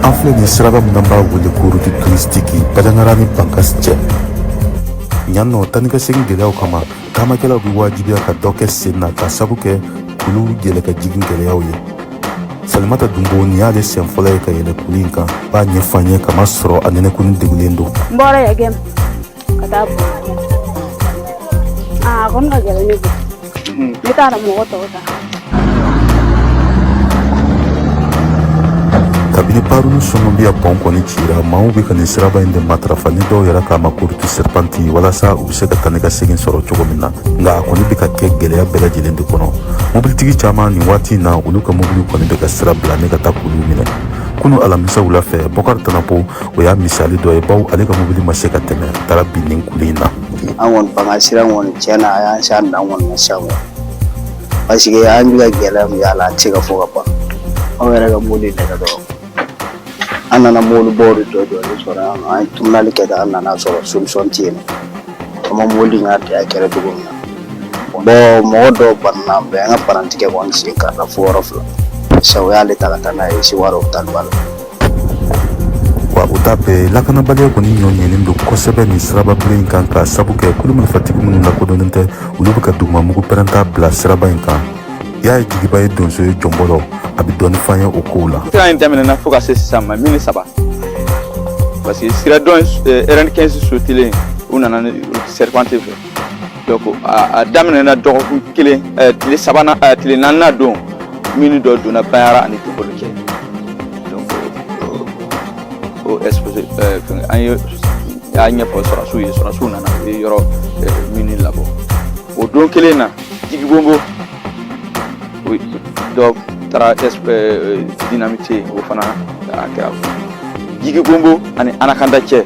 An filɛ nin siraba min n'an b'a wele ko route touristique bajangara ni bankas cɛ yan nɔ taanikasegin gɛlɛyaw kama taamakɛlaw bɛ wajibiya ka dɔ kɛ sen na k'a sabu kɛ kulu yɛlɛ ka jigin gɛlɛyaw ye salimata dunbo nin y'ale siɲɛ fɔlɔ ye ka yɛlɛ kulu in kan b'a ɲɛfɔ an ye ka masɔrɔ a ninakili degunnen don n bɔra yagɛm ka taa a kɔni ka gɛlɛn ne bolo n bɛ taa mɔgɔ tɔw ta kabini paru ni songobiya pɔn kɔni cira maaw bɛ ka nin siraba in de matarafa ni dɔw yɛrɛ k'a ma ko route serpentée walasa u bɛ se ka taa ni ka segin sɔrɔ cogo min na nka a kɔni bɛ ka kɛ gɛlɛya bɛɛ lajɛlen de kɔnɔ mobilitigi caman nin waati in na olu ka mobiliw kɔni bɛ ka sira bila ni ka taa kulu minɛ kunu alamisa wula fɛ bɔkari tanapo o y'a misali dɔ ye bawo ale ka mobili ma se ka tɛmɛ a taara bin nin kulu in na an kɔni an ka sira kɔni tiɲɛna a y'an se an dan kɔni na sisan parce que an bɛ ka gɛlɛya min ye a la an tɛ se k'a fɔ ka ban anw yɛrɛ ka mobili nɛgɛ dɔrɔn an nana mobilibaw de jɔ jɔlen sɔrɔ yan nɔ an ye turunɛli kɛ an nana a sɔrɔ solution tɛ yen an ma mobili in ka tɛ a kɛra cogo min na bɔn mɔgɔ dɔw bananen bɛ an ka parantikɛ kɔni sen karila fo yɔrɔ fila sabu u y'ale ta ka taa n'a ye sewarɛ opitaliba la wa u ta bɛɛ lakanabaliya kɔni ɲɔ ɲɛnen don kosɛbɛ nin siraba bilen in kan k'a sabu kɛ kulu marifatigi minnu lakodɔnnen tɛ olu bɛ ka dugumamugu pɛrɛnta bila siraba in kan yaya jigiba ye donso ye jɔnbɔlɔ a bɛ dɔɔni f'an ye o kow la sira in daminɛna fo ka se sisan ma mini ti saba parce que sira dɔ in RN 15 sotelen u nana nin serpentée fɛ donc a daminɛna dɔgɔkun kelen tile sabanan tile naaninan don mini dɔ donna bajangara ani tokolo cɛ donc o explosé an y'a ɲɛfɔ sɔrɔsiw ye sɔrɔsiw nana u ye yɔrɔ mini labɔ o don kelen na jigibonbo dɔ taara euh, dinamite o fana a kɛra jigibonbo ani anakanda cɛ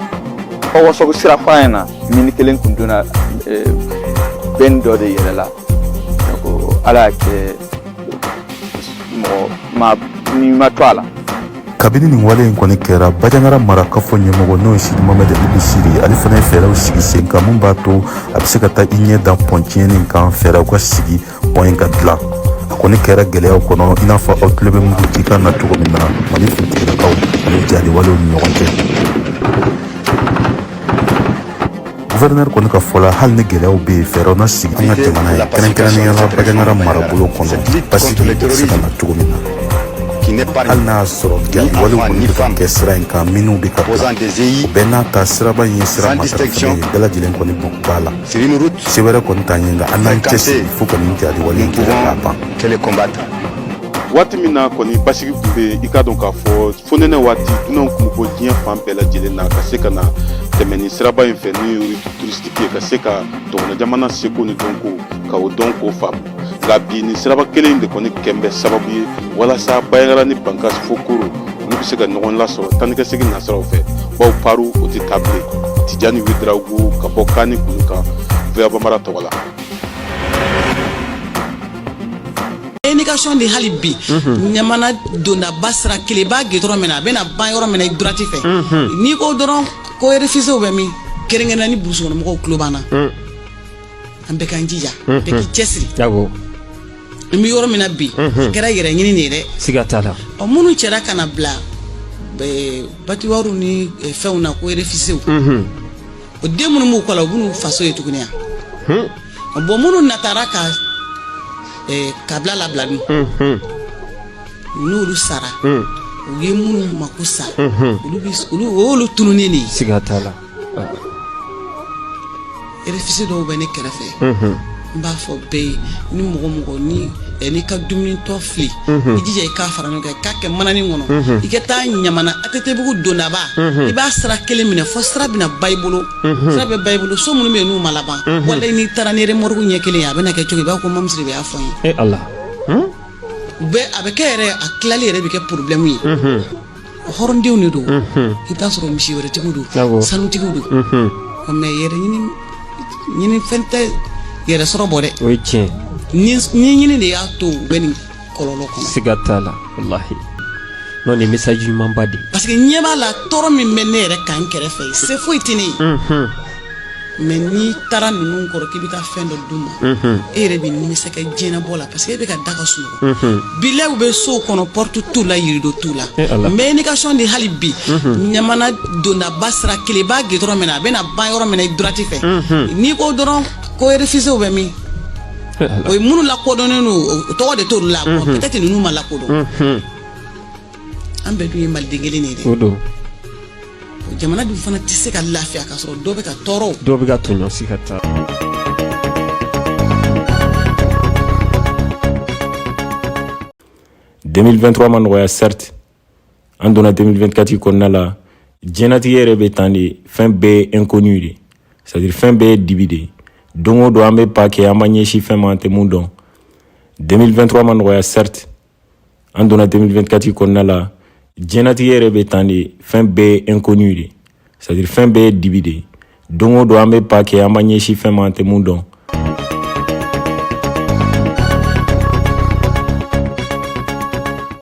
ɔwɔ sɔgo sirafara in na mini kelen tun donna euh, benne dɔ de yɛlɛla ala y'a kɛ mɔgɔ ni ma to a la kabini nin wale in kɔni kɛra bajangara mara kafo ɲɛmɔgɔ n'o ye sidi mohamɛdi ɛl besiri ale fana ye fɛɛrɛw sigi sen kan min b'a to a bɛ se ka taa i ɲɛ da pɔn tiɲɛnen kan fɛɛrɛw ka sigi pɔn in ka dilan a kɔni kɛra gɛlɛyaw kɔnɔ i n'a fɔ aw tulo bɛ mugu ci kan na cogo min na mali finitigilakaw ani jatigɛwalew ni ɲɔgɔn cɛ guvɛrɛnɛri kɔni ka fɔ la hali ni gɛlɛyaw bɛ yen fɛɛrɛw na sigi an ka jamana ye kɛrɛnkɛrɛnnenya la bajangara marabolo kɔnɔ basigi bɛ se ka na cogo min na hali n'a y'a sɔrɔ jatigɛwalew kɔni bɛ ka kɛ sira in kan minnu bɛ ka bila o bɛɛ n'a ta siraba in ye sira matarafalen ye bɛɛ lajɛlen kɔni bɔ b'a la se wɛrɛ kɔni t'an ye nka an n'an cɛsiri fo ka nin jatigɛwale in kɛlɛ k'a ban waati min na kɔni basigi tun bɛ yen i k'a dɔn k'a fɔ fo nɛnɛ waati dunanw kun bɔ diɲɛ fan bɛɛ lajɛlen na ka se ka na tɛmɛ nin siraba in fɛ n'o ye ruti turisitiki ye ka se ka dɔgɔnɔ jamana seko ni dɔnko ka o dɔn k'o faamu nka bi nin siraba kelen de kɔni kɛlen bɛ sababu ye walasa bajangara ni bankas fo koro olu bɛ se ka ɲɔgɔn lasɔrɔ taanikasegin nasiraw fɛ bawo paru o tɛ taa bilen tijani wedarago ka bɔ kani kulu kan VOA bambara tɔgɔ la Indication de hali bi ɲamana dondaba sira kelen i b'a gɛn dɔrɔn min na a bɛna ban yɔrɔ min na i droite fɛ n'i ko dɔrɔn ko refise bɛ min kɛrɛnkɛrɛnna ni burusukɔnɔmɔgɔw tulo b'an na an bɛɛ k'an jija bɛɛ k'i cɛsiri Awɔ. an bɛ yɔrɔ min na bi a kɛra yɛrɛ ɲini de ye dɛ Siga t'a la. ɔ minnu cɛra ka na bila eh, batiwariw ni eh, fɛnw na ko refisew o den minnu b'u kɔ la u b'u n'u faso ye tuguni yan bon minnu natara ka eh, kabila labila min n'olu sara u ye minnu mako sa olu bi olu o y'olu tununnen de ye siga t'a la refisi dɔw bɛ ne kɛrɛfɛ n b'a fɔ bɛɛ ye ni mɔgɔ o mɔgɔ ni eh, n'i ka dumunitɔ fili i jija i k'a fara ɲɔgɔn kan i k'a kɛ mananin kɔnɔ i ka taa ɲamana atetebugu dondaba i b'a sira kelen minɛ fo sira bɛna ban i bolo sa bɛ ban i bolo so minnu bɛ n'u ma laban wala n'i taara ni mure ɲɛ kelen ye a bɛ kɛ cogo b'a ko mamuso de y'a fɔ ye a bɛ kɛ yɛrɛ a tilali yɛrɛ bɛ kɛ porobilɛmu ye hɔrɔndenw de don i t'a sɔrɔ misi wɛrɛtigiw don sanutigiw don mɛ yɛrɛ ɲini fɛn tɛ yɛrɛ sɔrɔ bɔ dɛ o ye tiɲɛ ni ɲini de y'a to bɛ nin kɔlɔlɔ kɔnɔ siga t'a la walahi n'o ni mesazi ɲumanba de ye parce que ɲɛ b'a la tɔɔrɔ min bɛ ne yɛrɛ kan kɛrɛfɛ se foyi tɛ ne ye mɛ n'i taara ninnu kɔrɔ k'i bɛ taa fɛn dɔ d'u ma e yɛrɛ bɛ nimisa kɛ diɲɛbɔ la parce que e bɛ ka da ka sunɔgɔ bilaw bɛ sow kɔnɔ pɔriti t'u la rido t'u la mɛ indication de hali bi ɲamana dondaba sira kelen b'a gɛn dɔrɔn min na a bɛna ban yɔrɔ min i droite fɛ n'i ko dɔrɔn ko erefisiw bɛ min o ye minnu lakodɔnnen don o tɔgɔ de t'olu la peut-être ninnu ma lakodɔn an bɛɛ dun ye maliden kelen de ye dɛ o don jamana dun fana tɛ se ka lafiya k'a sɔrɔ dɔ bɛ ka tɔɔrɔ dɔw bɛ ka tɔɲɔ si ka ta ma nɔgɔya certes an donna 2024 kɔnɔna la diɲɛnatigɛ yɛrɛ bɛ tan de fɛn bɛɛ ye inconnu de c'est à dire fɛn bɛɛ ye dibi de ye don o don an bɛ pas kɛ an b'an ɲɛsin fɛn ma an tɛ mun dɔn 2023 ma nɔgɔya certes an donna 2024 kɔnɔna la diɲɛnatigɛ yɛrɛ bɛ tan de fɛn bɛɛ ye inconnu de c'est à dire fɛn bɛɛ ye dibi de ye don o don an bɛ pas kɛ an b'an ɲɛsin fɛn ma an tɛ mun dɔn